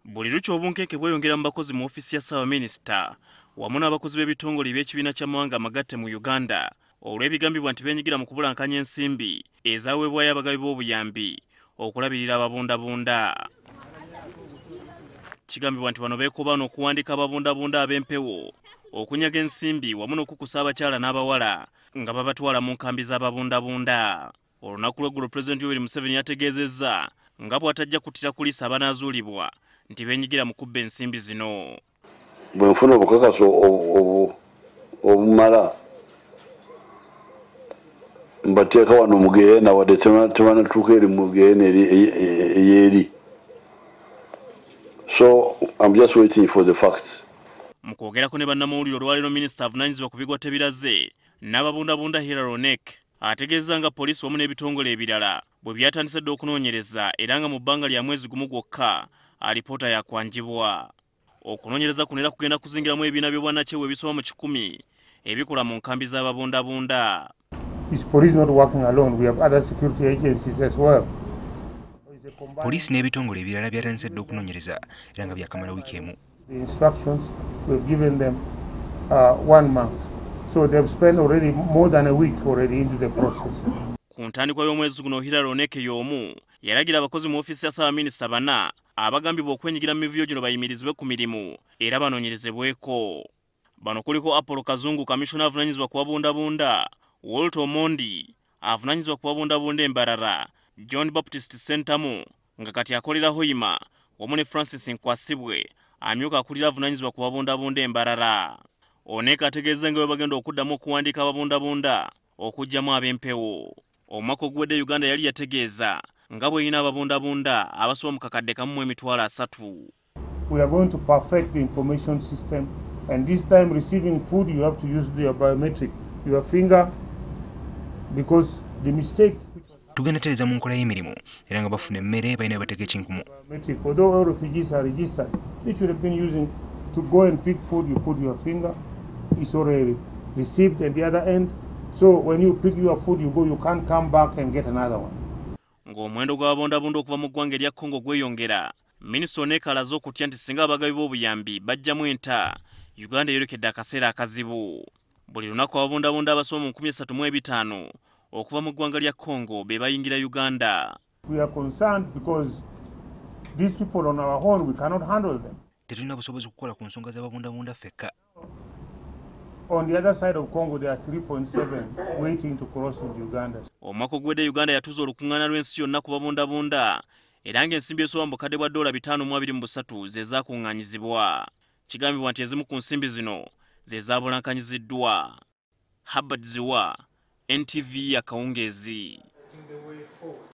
buli lukya obunkenke bweyongera mu bakozi mu ofiisi ya ssaabaminisita wamu n'abakozi b'ebitongole eby'ekibiina ky'amawanga amagatte mu uganda olw'ebigambibwa nti benyigira mu kubulankanya ensimbi ezaweebwayo abagabi b'obuyambi okulabirira ababundabunda kigambibwa nti bano beekobaana okuwandiika ababundabunda ab'empewo okunyaga ensimbi wamu n'okukusa abakyala n'abawala nga babatwala mu nkambi z'ababundabunda olunaku lweggulo pulezidenti yoweri museveni yategeezezza nga bw'atajja kuttira kuliisa abanaazuulibwa nti benyigira mu kubba ensimbi zino bwe nfuna obukakaso obumala mbateeka wano mugeena wadde tebanatuuka eri mugeena eyeeri so im just waiting for the facts mu kwogerako ne bannamawulire olwaleero minisita avunanyizibwa ku bigwa tebiraze n'ababundabunda hiraronek ategeezza nga poliisi wamu n'ebitongole ebirala bwe byatandise dda okunoonyereza era nga mu bbanga lya mwezi gumu gwokka alipoota yakwanjibwa okunoonyereza kuno era kugenda kuzingiramu ebibiina by'obwannakyewa ebisoba mu kikumi ebikola mu nkambi z'ababundabunda poliisi n'ebitongole ebirala byatandise dda okunoonyereza era nga byakamala wiiki emu The instructions we've given them uh, one month. So they've spent already more than a week already into the process. Ku ntandikwa y'omwezi guno Hillary Oneke y'omu yalagira abakozi mu ofiisi ya Ssaabaminisita bana abagambibwa okwenyigira mu mivuyo gino bayimirizibwe ku mirimu era banoonyerezebweko. Bano kuliko Apollo Kazungu kamissiona avunanyizibwa ku babundabunda, Walter Omondi avunanyizibwa ku babundabunda e Mbarara, John Baptist Ssentamu nga kati akolera Hoima wamu ne Francis Nkwasibwe amyuka akulira avunanyizibwa ku babundabunda e Mbarara. Onek ategeezza nga bwe bagenda okuddamu okuwandiika ababundabunda okugyamu ab'empewo. Omwaka oguwedde Uganda yali yategeeza nga bw'erina ababundabunda abasoba mu kakadde kamu mu emitwalo asatu. We are going to perfect the information system and this time receiving food you have to use your biometric your finger because the mistake tugenda tereza mu nkola y'emirimu era nga bafuna emmere balina bateka ekinkumu received at the other end so when you pick your food you go you can't come back and get another one ng'omuwendo gw'ababondabunda okuva mu ggwanga erya congo gweyongera Minisita ono ekalaze okutya nti singa abagabi b'obuyambi bajjamu enta Uganda eyolekedde akaseera akazibu buli lunaku ababundabunda abasoba mu 35 okuva mu ggwanga lya Congo be bayingira Uganda tetulina busobozi kukola ku nsonga z'ababundabunda ffekka Omwaka oguwedde Uganda yatuuza olukuŋŋaana lw'ensi yonna ku babundabunda era ng'ensimbi esoba mu bukadde bwa ddoola bitaano mu abiri mu busatu ze zaakuŋŋaanyizibwa. Kigambibwa nti ezimu ku nsimbi zino ze zaabulankanyiziddwa. Herbert Ziwa, NTV Akawungeezi.